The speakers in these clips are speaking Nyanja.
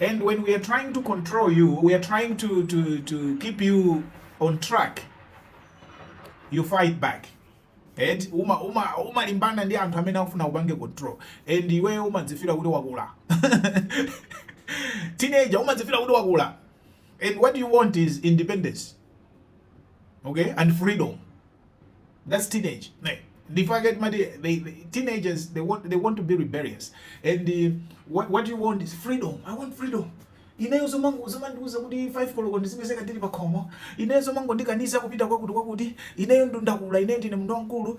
and when we are trying to control you we are trying to, to, to keep you on track you fight back and uma uma umalimbana ndi anthu amene akufuna kupanga control and iweyo umadzifira kuti wakula teenager umadzifira kuti wakula and what you want is independence okay and freedom that's teenage nde ndipake timati they, they, teenagers they want, they want to be rebellious and uh, what, what you want is freedom i want freedom ineyo zomango zomangondiuza kuti 5 koloko ndizipezeka ndili pakhomo ineyo zomango ndikaniza kupita kwakuti kwakuti ineyo nda ndakula ine ndine munthu wamkulu uh,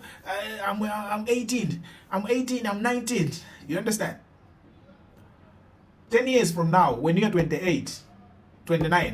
I'm, I'm 18 I'm 18 I'm 19 you understand 10 years from now when you are 28 29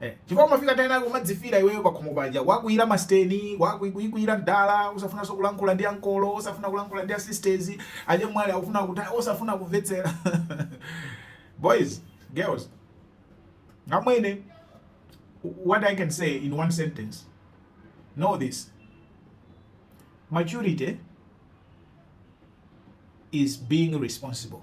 Eh, chifukwa umafika pa nthawi inayake umadzifira iweyo pakhomo paja kuwakwiyira masteni kuwakwiyira mdala osafunanso kulankhula ndi ankolo osafuna kulankhula ndi asisters achemwali akufuna kutero osafuna kumvetsera boys girls amwene what i can say in one sentence know this maturity is being responsible